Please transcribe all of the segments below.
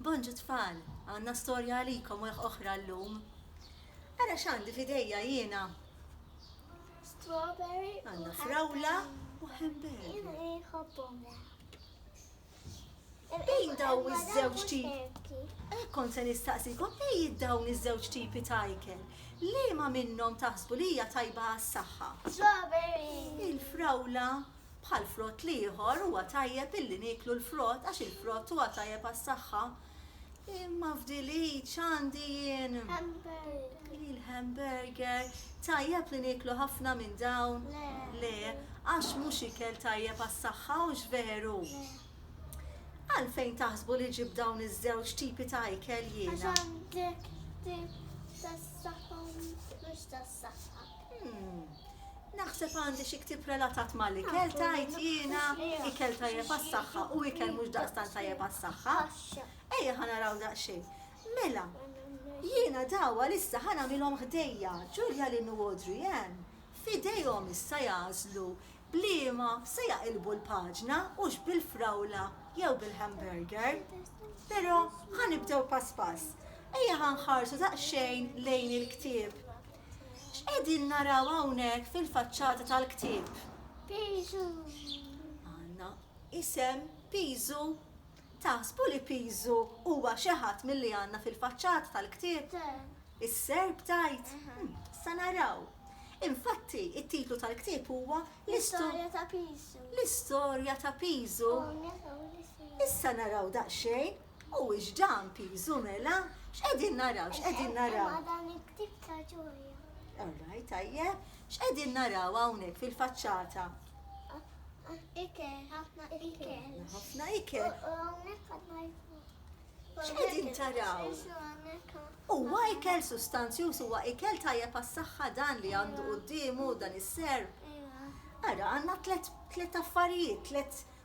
Bonġu tfal, għandna storja għalikom oħra llum. Ara x'għandi f'idejja jiena. Strawberry u Għandna frawla u hamburger. Inħobbhom Bejn daw iż-żewġ tip. Hekk kont se nistaqsikom bejn dawn iż-żewġ tipi ta' ikel. Liema minnhom taħsbu li hija tajba għas-saħħa? Strawberry. Il-frawla Bħal frott l-ieħor huwa tajjeb illi nieklu l-frott għax il-frott huwa tajjeb għas-saħħa. Imma f'dil id x'għandi jien? Hamburger. Il-hamburger. Tajjeb li nieklu ħafna minn dawn? Le. Le, għax mhux ikel tajjeb għas-saħħa, hux veru? Le. Għalfejn taħsbu li ġibt dawn iż-żewġ tipi ta' ikel jiena? Għax għandek tip tas-saħħa u mhux tas-saħħa. Hm. Naħseb għandi xi ktieb relatat mal-ikel, tgħid jiena, ikel tajjeb għas-saħħa u ikel mhux daqstant tajjeb għas-saħħa. Ejja ħa naraw daqsxejn. Mela, jiena daw għalissa ħa nagħmilhom ħdejja, Ġulja, Lynn u Audrey Ann. F'idejhom issa jagħżlu b'liema se jaqilbu l-paġna hux bil-frawla jew bil-hamburger. Però ħa nibdew pass pass. Ejja ħa nħarsu daqsxejn lejn il-ktieb X'qegħdin naraw hawnhekk fil-faċċata tal-ktieb? Piżu. Għandna isem Piżu. Taħsbu li Piżu huwa xi ħadd milli għandna fil-faċċata tal-ktieb? Is-serp tgħid? Sa naraw. Infatti, it-titlu tal-ktieb huwa L-Istorja ta' Piżu. L-Istorja ta' Piżu. Issa naraw daqsxejn. Mhuwiex dan piżu mela? X'qegħdin naraw, x'qegħdin naraw? Imma dan il-ktieb ta' ġoja. All right, tajjeb. X'qegħdin naraw hawnhekk fil-faċċata? Ikel, ħafna ikel. Ħafna ikel. U hawnhekk għandna X'qegħdin taraw? Huwa ikel sustanzjuż huwa ikel tajjeb għas-saħħa dan li għandu quddiemu dan is-serb. Ara għandna tliet affarijiet, tliet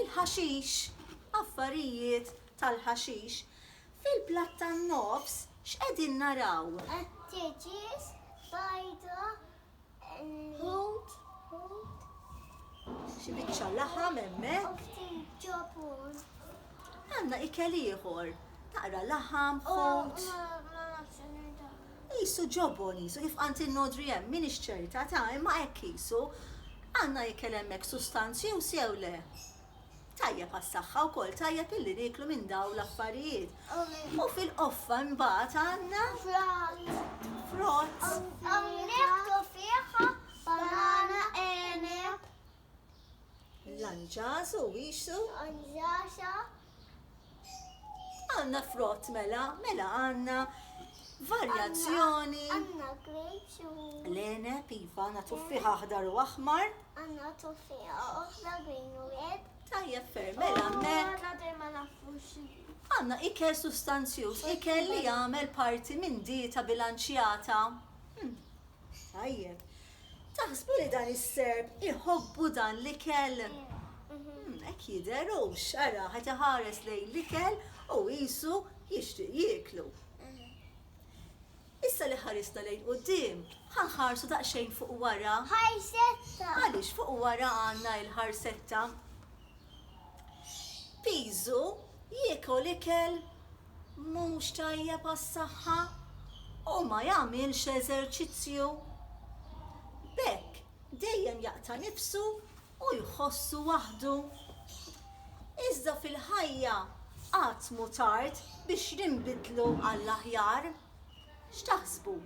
il-ħaxix, affarijiet tal-ħaxix. Fil-platt tan-nofs x'qegħdin naraw? Għat-tieġiż, bajdha, ħut, xi biċċa laħam hemmhekk. U ftit ġobon. Għandna ikel ieħor, taqra laħam, ħut. Qisu, ġobon qisu, kif qalt in-nodri hemm, m'iniex ċerta ta', imma hekk qisu. Għandna ikel hemmhekk sustanzjuż jew le? Tajjeb għas-saħħa wkoll, tajjeb illi nieklu minn dawn l-affarijiet. U fil-qoffa imbagħad għandna. Frott. Frott. Nieħdu fih banana, għeneb. Lanġas u wixsu. Lanġasa. Għandna frott mela, mela għandna varjazzjoni. Għandna grapes u. Lene, piva, għandna tuffiħa aħdar u aħmar. Għandna tuffiħa oħra green u red. Tajjeb ferm, mela oh, mek. Għandna dejjem ma nafux. Għandna ikel sustanzjuż, ikel li jagħmel parti minn dieta bilanċjata. Hmm. Tajjeb. Taħsbu li dan is-Serb iħobbu dan l-ikel? Hekk jidher hux, ara qed iħares lejn l-ikel u qisu jixtieq jieklu. Issa li ħarisna lejn quddiem, ħa nħarsu daqsxejn fuq wara. Ħarsetta! Għaliex fuq wara għandna il-ħarsetta. Pisu jiekol ikel mhux tajjeb għas-saħħa u ma jagħmilx eżerċizzju. B'hekk dejjem jaqta' nifsu u jħossu waħdu. Iżda fil-ħajja qatt mhu tard biex ninbidlu għall-aħjar. X'taħsbu?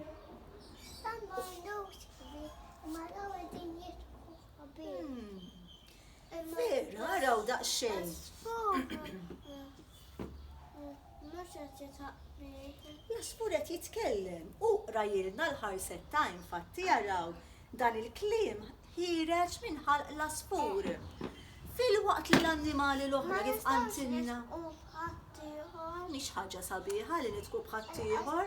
Vera, araw daqsxejn. Jasfur qed jitkellem u qrajilna l-ħarset time fatti jaraw dan il-kliem ħireġ minn ħalq l-aspur. Fil-waqt li l-annimali l-oħra kif qantilna. Mhix ħaġa sabiħa li nitku bħaddieħor.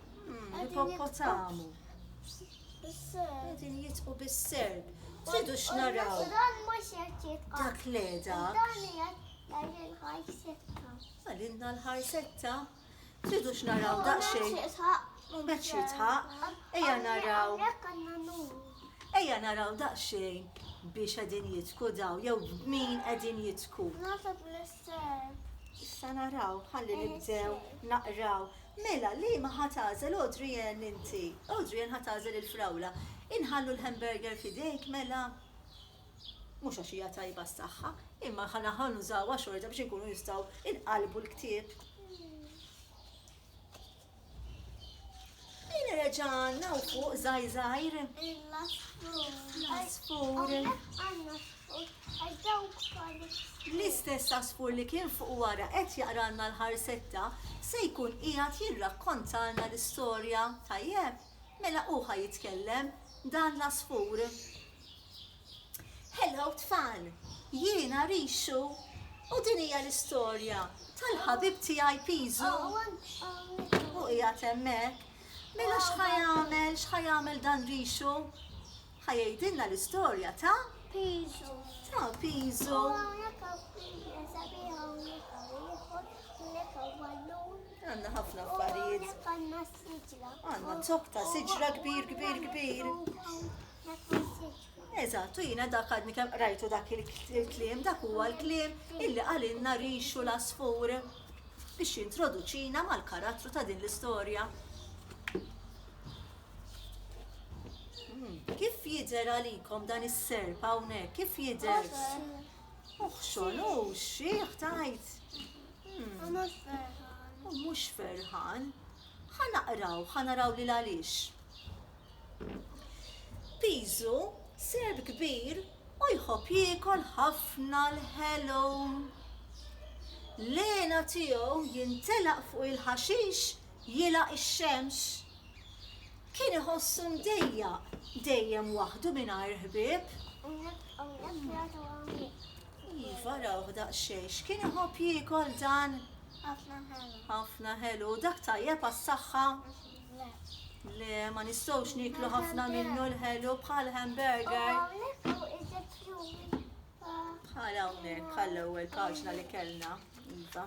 Ippoppotamu. Qegħdin jitqu bis-serb. Tridu x'naraw. Dan mhux qed jitqa'. Dak le dak. Dan qed l-ħajsetta. Għalilna l-ħajsetta. Tridu x'naraw daqsxejn. Mhux jitħaq. Ejja naraw. Ejja naraw daqsxejn biex qegħdin jitku daw jew min qegħdin jitku. Nasab l-serb. Issa naraw, ħalli nibdew naqraw. Mela, liema ħa tagħżel Audrey Ann inti? Audrey Ann ħa tagħżel il-frawla. Inħallu l-hamburger f'idejk mela? Mhux għax hija tajba s-saħħa, imma ħa naħa nużawha xorta biex inkunu nistgħu nqallbu l-ktieb. Ejna reġa' għandna hawn fuq żgħir żgħir. Il-għasfur. L-għasfur. Hawnhekk għandna L-istess għasfur li kien fuq wara qed jaqralna l-ħarsetta se jkun qiegħed jirrakkontalna l-istorja, tajjeb? Mela hu ħa jitkellem, dan l-għasfur. Hello tfal! Jiena Rixxu u din hija l-istorja tal-ħabib tiegħi Piżu. Hu qiegħed hemmhekk. Mela x'ħa jagħmel, x'ħa jagħmel dan Rixxu? Ħa jgħidilna l-istorja ta' Piżu. Ta' Piżu. U hawnhekk hawn piża sabiħa hawnhekk hawn ieħor, hawnhekk hawn ballun. Għandna ħafna affarijiet. Hawnhekk għandna siġra. Għandna zokk ta' siġra kbir kbir kbir. Eżatt, u jiena dak għadni kemm qrajtu dak il-kliem, dak huwa l-kliem illi qalilna rixu l-asfur biex jintroduċina mal-karattru ta' din l-istorja. Kif jidher għalikom dan is-serp hawnhekk? Kif jidher? Uħxon, u xieħ tajt. U mhux ferħan. U mhux ferħan. Ħa naqraw, ħa naraw li għaliex. Piżu, serb kbir, u jħobb jiekol ħafna l-ħelu. Lena tiegħu jintelaq fuq il-ħaxix jilgħaq ix-xemx, kien iħossu mdejjaq dejjem waħdu mingħajr ħbieb. Iva, rawh daqsxejn, x'kien iħobb jiekol dan? Ħafna ħelu. Ħafna ħelu, dak tajjeb għas-saħħa? Le, ma nistgħux nieklu ħafna minnu l-ħelu bħal hamburger. Bħal hawnhekk, bħal ewwel paġna li kellna. Iva.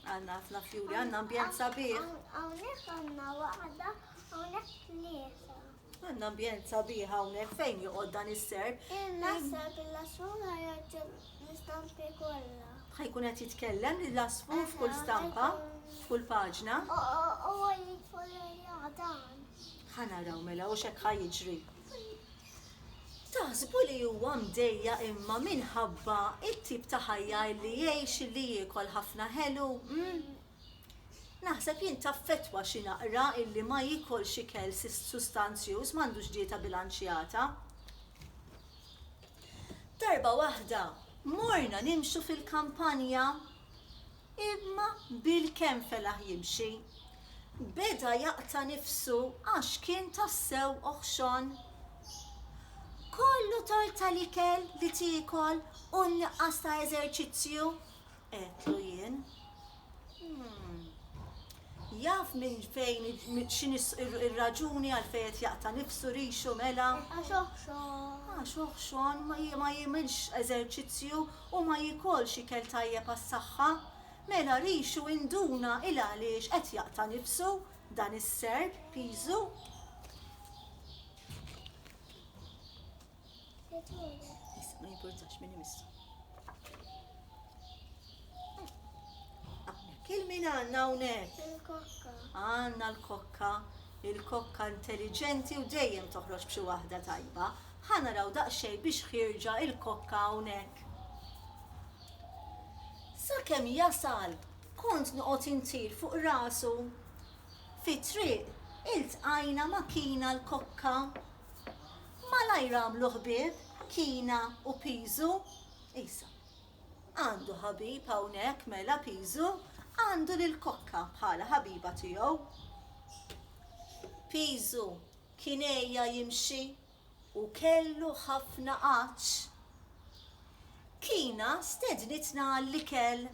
Għandna ħafna fjuri, għandna ambjent sabiħ. Hawnhekk għandna waħda, hawnhekk tlieta. Għandna ambjent sabiħ hawnhekk fejn joqgħod dan is-serb. Il-nasab il-lasfur ħajoġġel l-istampi kollha. Ħajkun qed jitkellem l-lasfur f'kull stampa, f'kull paġna. U għalli tfolja dan. Ħanaraw mela u xek ħajġri. Taħsbu li huwa mdejjaq imma minħabba t-tip ta' ħajja li jgħix illi jiekol ħafna ħelu, hm? Naħseb jien taffettwa xi naqra illi ma jiekolx ikel sustanzjuż, m'għandux dieta bilanċjata. Darba waħda morna nimxu fil-kampanja. Imma bil kemm felaħ jimxi, beda jaqta' nifsu għax kien tassew oħxon. Kollu tort tal-ikel li tiekol u nqas ta' eżerċizzju? għedtlu jien. Umm. Jaf minn fejn x'inhi r-raġuni għalfejn qed jaqta' nifsu rixu mela? Għax oħxon. Għax oħxon, ma jagħmilx eżerċizzju u ma jiekolx ikel tajjeb għas-saħħa, mela rixu induna 'l għaliex qed jaqta' nifsu dan is-Serb piżu. Issa ma jimpurtax min imissu. Hawnhekk il-min għandna hawnhekk? Il-kokka. Għandna l-kokka, il-kokka intelliġenti u dejjem toħroġ b'xi waħda tajba. Ħa naraw daqsxejn biex ħierġa il-kokka hawnhekk. Sakemm jasal, kont noqgħod intir fuq rasu. Fit-triq, iltqajna ma' Kina l-kokka. Malajr għamlu ħbieb Kina u Piżu. Isa, Għandu ħabib hawnhekk mela Piżu, għandu lill-kokka bħala ħabiba tiegħu. Piżu, Kien għejja jimxi u kellu ħafna għatx. Kina stednitna għall-ikel.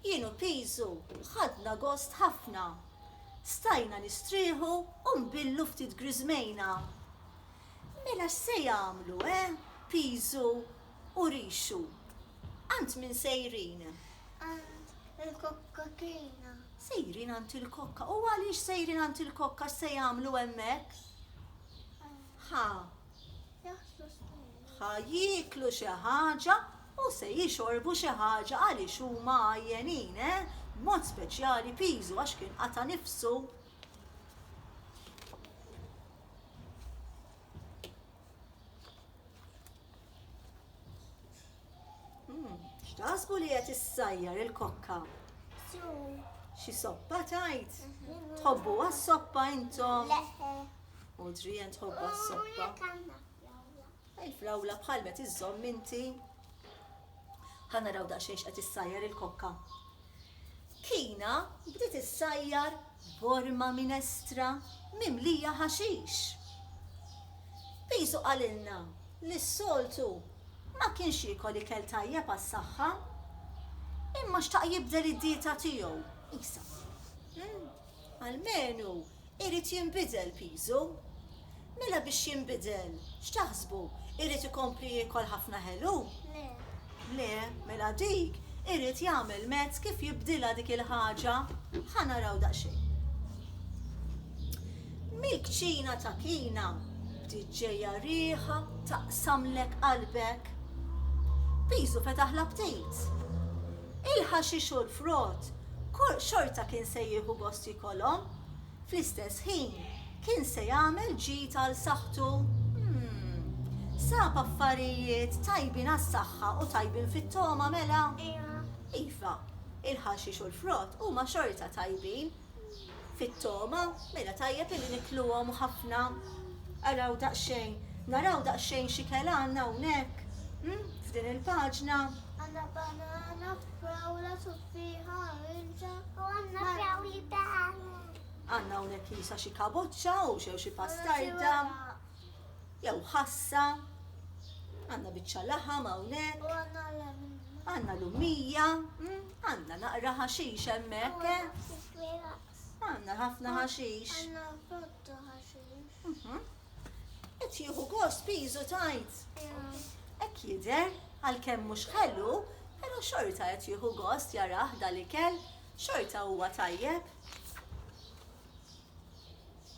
Jien u Pisu ħadna gost ħafna. Stajna nistrieħu u nbillu ftit griżmejna. Mela x'se jagħmlu, eh, Pisu u Rixu? Għand min sejrin? Għand il-kokkatina. Sejrin għand il-kokka. U għaliex sejrin għand il-kokka se jagħmlu hemmhekk? Ħa. Ħa jieklu xi ħaġa u se jixorbu xi ħaġa għaliex huma għajjenin, eh? Mod speċjali piżu għax kien qata' nifsu. Hmm, x'taħsbu li qed issajjar il-kokka? Xi soppa tajt? Tħobbu għas-soppa intom? U drijen tħobba s-soppa. Il-flawla bħal met iżżomm inti. Ħanna raw daqsxejn x'qed issajjar il-kokka. Kina bdiet issajjar borma minestra mimlija ħaxix. Pisu qalilna li s-soltu ma kienx jiekol ikel tajjeb għas-saħħa, imma xtaq jibdel id-dieta tiegħu. Isa. Almenu irid jinbidel piżu. Mela biex jinbidel, x'taħsbu, irid ikompli jiekol ħafna ħelu? Le. Le, mela dik irid jagħmel mezz kif jibdilha dik il-ħaġa. Ħa naraw daqsxejn. Mill-kċina ta' Kina bdiet ġejja riħa taqsamlek qalbek. Piżu fetaħ l-aptit. il-ħaxix u l-frott, xorta kien se jieħu gost jikolhom. Fl-istess ħin, kien se jagħmel ġid għal saħħtu. Sab affarijiet tajbin għas-saħħa u tajbin fit-togħma, mela? Iva, il-ħaxix u l-frott huma xorta tajbin. fit-togħma, mela tajjeb illi nikluhom ħafna. Araw daqsxejn, naraw daqsxejn xi kela għandna hawnhekk, hm, f'din il-paġna. Għandna banana, frawla, tuffieħa, oranġa. U għandna frawli b'għalaq. Għandna hawnhekk qisha xi kaboċċa u xew xi pastarda. Jew ħassa, għandna biċċa laħam hawnhekk. Għandna lumija, mm, għandna naqra ħaxix hemmhekk, eh? Għandna ħafna ħaxix. Mhm. Qed jieħu gost piżu tajt. Hekk jidher għalkemm mhux ħelu, però xorta qed jieħu gost jarah dal-ikel, xorta huwa tajjeb.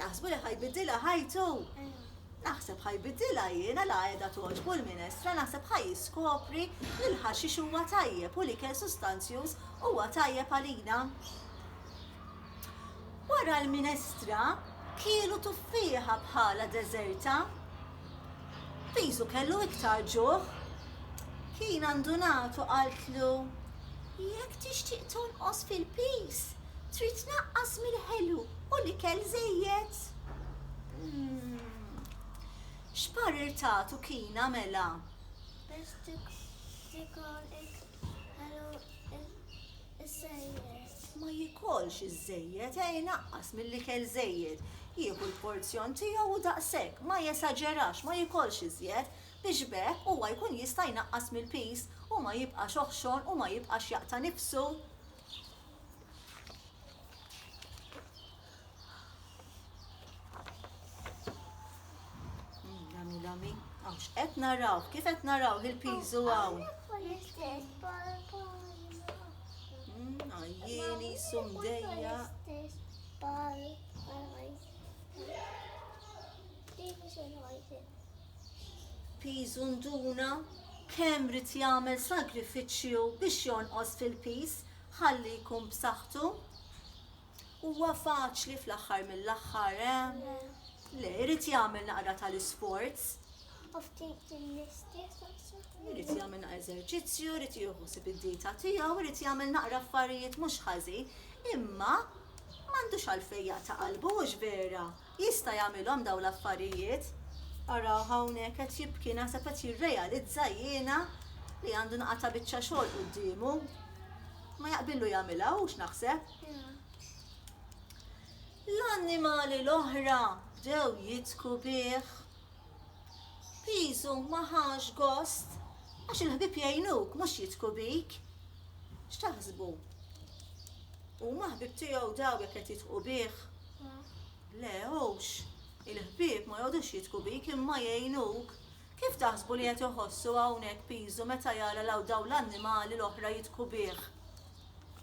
Taħsbu li ħajbidilha ħajtu? Naħseb ħajbidilha jiena la qiegħda togħġbu l-minestra naħseb ħa jiskopri li l-ħaxix huwa tajjeb u l-ikel sustanzjuż huwa tajjeb għalina. Wara l-minestra, kielu tuffieħa bħalha deżerta. Pisu kellu iktar ġuħ. Kien għandu nagħtu qaltlu, Jekk tixtieq tonqos fil-piż, trid tnaqqas mill-ħelu u l-ikel żejjed. X'parir tagħtu Kina mela? Biex tikol ħelu Iż-żejjed. Ma jikolx iż-żejjed, ejja jnaqqas milli kel żejjed. Jieħu l-porzjon tiegħu u daqshekk, ma jesaġerax, ma jikolx iżjed, biex b'hekk huwa jkun jista' jnaqqas mill-piż u ma jibqax oħxon u ma jibqax jaqta' nifsu. Lami, lami. Għax, qed naraw, kif qed naraw il-piżu għaw. Għajjeni, mm, sumdejja. Piżu nduna, kemm rit jagħmel sagrifiċċju biex jonqos fil-piż ħalli jkun b'saħħtu. Huwa faċli fl-aħħar mill-aħħar, eh? Le. Le, irid jagħmel naqra tal-isports. U ftit il-istess Irid jagħmel naqra eżerċizzju, irid jieħu sib id-dieta tiegħu, irid jagħmel naqra affarijiet mhux ħażin, imma m'għandux għalfejn jaqta' qalbu hux vera. Jista' jagħmilhom dawn l-affarijiet? Araw hawnhekk qed jibki, naħseb qed jirrealizza jiena li għandu nqata' biċċa xogħol quddiemu. Ma jaqbillu jagħmilha hux naħseb. L-annimali l-oħra bdew jidhku bih. Piżu ma ħax gost għax il-ħbieb jgħinuk mhux jidhku bik. X'taħsbu? Huma ħbieb tiegħu dawn jekk qed jidhqu bih? Le, hux. Il-ħbieb ma jqogħdux jidhku bik imma jgħinuk. Kif taħsbu li qed iħossu hawnhekk Pisu meta jara l dawn l-annimali l-oħra jidhku bih?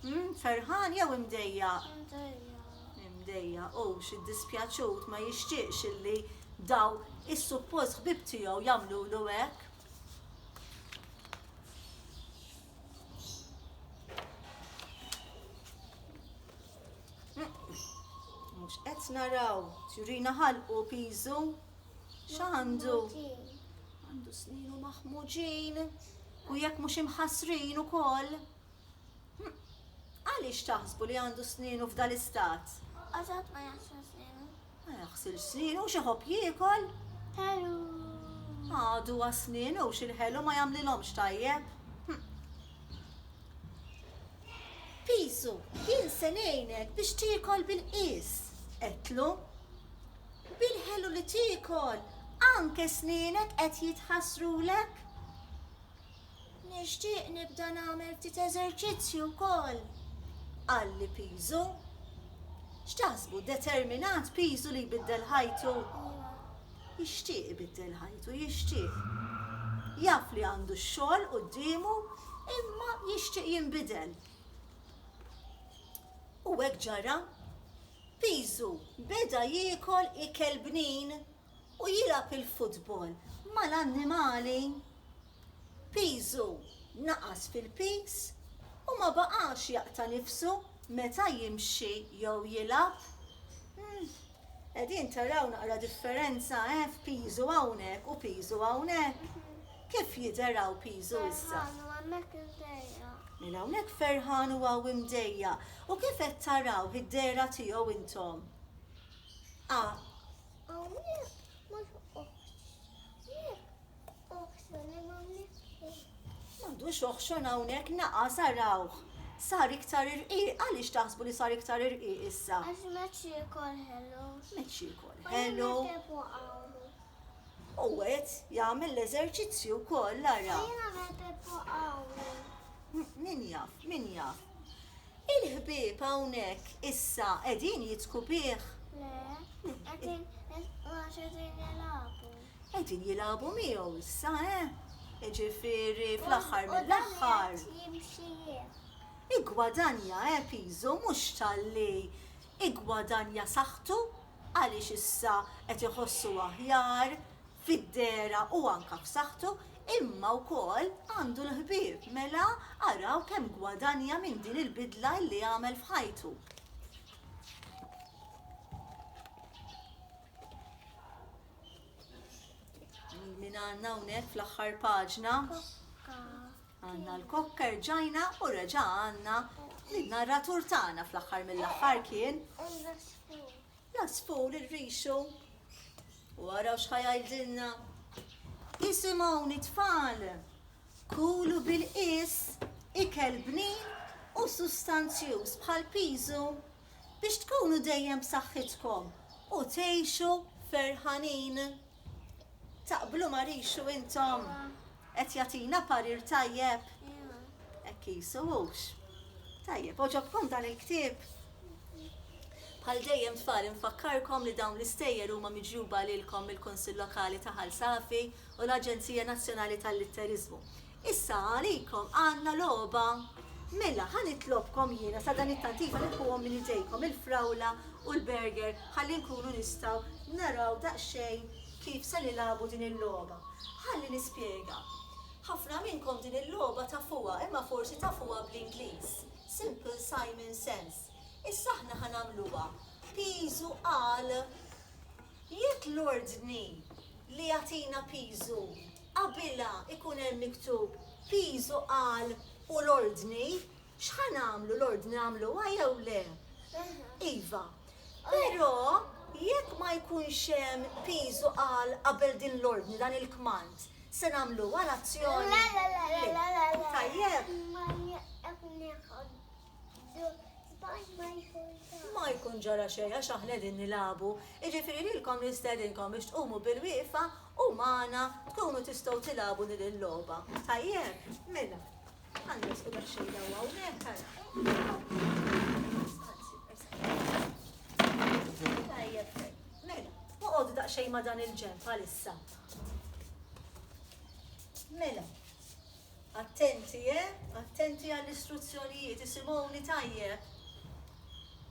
Hm, ferħan jew imdejjaq? Imdejjaq. Imdejjaq, hux iddispjaċut, ma jixtieqx illi daw is-suppost ħbieb tiegħu jagħmlulu hekk. Mhux qed naraw, tjurina ħalqu piżu. X'għandu? Għandu sninu maħmuġin u jekk mhux imħassrin ukoll. Għaliex taħsbu li għandu sninu f'dal-istat? Għażat ma jaħsel sninu. Ma jaħsilx snienu u x'ihobb jiekol. Ħelu. Għadu għas-snien u x'il-ħelu ma jagħmlilhomx tajjeb. Pisu, jien se ngħinek biex tiekol bil-qies, għedtlu. Bil-ħelu li tiekol anke snienek qed jitħassrulek. Nixtieq nibda nagħmel ftit eżerċizzju wkoll, qalli Pisu. X'taħsbu, determinat Pisu li jbiddel ħajtu? Jixtieq ibiddel ħajtu, jixtieq. Jaf li għandu x-xogħol quddiemu imma jixtieq jinbidel. U hekk ġara. Pisu beda jiekol ikel bnin u jilgħab il-futbol mal-annimali, piżu naqas fil-piż u ma baqax jaqta' nifsu meta jimxi jew jilgħab. Hm, qegħdin taraw naqra differenza, eh, f'piżu hawnhekk u piżu hawnhekk? Kif jidher hawn piżu issa? Ferħan u hemmhekk imdejjaq. Mela hawnhekk ferħan u hawn imdejjaq. U kif qed tarawh id-dehra tiegħu intom? A. M'għandux oħxon hawnhekk naqas arawh. Sar iktar irqiq, għaliex taħsbu li sar iktar irqiq issa? Għax meċ jikol ħelu. Meċ jikol ħelu. U għet jagħmel l-eżerċizzju wkoll ara. Min jaf, min jaf. Il-ħbieb hawnhekk issa qegħdin jidhku bih? Le, qegħdin jidhku għax qegħdin jilagħbu. Qegħdin jilagħbu miegħu issa, eh? Jiġifieri fl-aħħar mill-aħħar. Jimxi jien. Igwadanja, eh, piżu mhux talli igwadanja saħħtu għaliex issa qed iħossu aħjar, fid-dehra u anke f'saħħtu, imma wkoll għandu l-ħbieb, mela araw kemm gwadanja minn din il-bidla illi għamel f'ħajtu. Min għandna hawnhekk fl-aħħar paġna? Għandna l-kokka rġajna u reġa' għandna l-narratur tagħna fl-aħħar mill-aħħar kien Jasbu lil rixu u araw x'ħa jgħidilna. Isimgħuni tfal, kulu bil-qies ikel bnin u sustanzjuż bħal piżu biex tkunu dejjem b'saħħitkom u tgħixu ferħanin. Taqblu ma rixu intom? Qed jagħtina parir tajjeb? Hekk qisu hux? Tajjeb, għoġobkom dan il-ktieb? Bħal dejjem tfal infakkarkom li dawn l-istejjer huma miġjuba lilkom mill-Kunsill Lokali ta' Ħal Safi u l-Aġenzija Nazzjonali tal-Litteriżmu. Issa għalikom għandna logħba. Mela, ħa nitlobkom jiena sadanittant iva nieħuhom minn idejkom il-frawla u l-burger ħalli nkunu nistgħu naraw daqsxejn kif se nilagħbu din il-logħba. Ħalli nispjega. Ħafna minnkom din il-logħba tafuha imma forsi tafuha bl-Ingliż, Simple Simon Sense. Issa aħna ħa nagħmluha piżu għal. Jekk l-ordni li jagħtina piżu qabilha jkun hemm miktub piżu qal u l-ordni, x'ħa nagħmlu, l-ordni nagħmluha jew le? Iva. Però jekk ma jkunx hemm piżu qal qabel din l-ordni, dan il-kmand, se nagħmluha l-azzjoni? Le. Tajjeb? Ma jkun ġara xejn għax aħna qegħdin nilagħbu. Jiġifieri lilkom nistedinkom biex tqumu bil-wieqfa u magħna tkunu tistgħu tilagħbu din il-logħba. Tajjeb? Mela. Għandna squ daqsxejn daw hawnhekk Tajjeb. Mela, oqgħodu daqsxejn ma' dan il-ġenb għalissa. Mela, Attenti, eh! Attenti għall-istruzzjonijiet, isimgħuni tajjeb!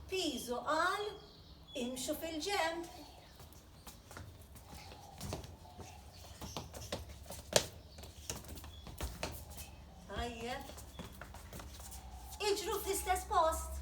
Piżu qal, Imxu fil-ġenb! Tajjeb. Iġru fl-istess post.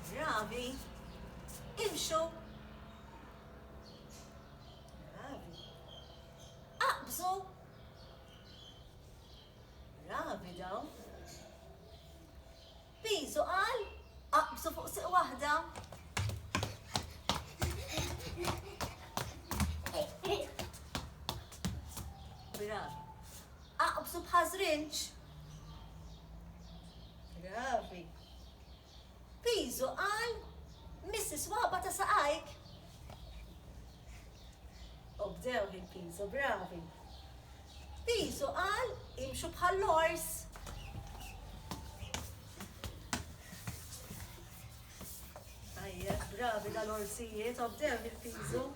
Drabi, imxu. Drabi, aqbżu. Drabi daw. Bizu qal, aqbżu fuq siq waħda. Drabi, aqbżu bħazrinċ. Drabi. Piżu qal, Miss is-swaba ta' saqajk! U bdew lil Piżu bravi. Piżu qal, Imxu bħall-ors! Tajjeb, bravi dal-orsijiet, obdew lil Piżu.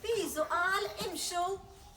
Piżu qal, Imxu!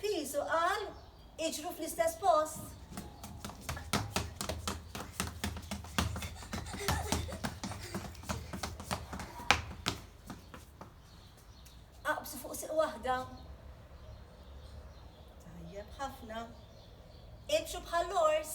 Pisu qal iġru fl-istess post. Aqbsu fuq siq waħda. Tajjeb ħafna. Imxu bħall-ors.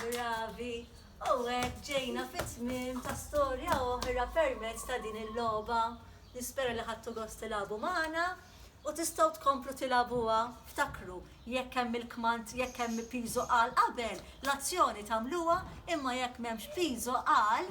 Bravi! U hekk ġejna fit-tmiem ta' storja oħra permezz ta' din il-logħba. Nispera li ħadtu gost tilagħbu magħna u tistgħu tkomplu tilagħbuha. Ftakru, jekk hemm il-kmand, jekk hemm piżo qal qabel, l-azzjoni tagħmluha, imma jekk m'hemmx piżo qal,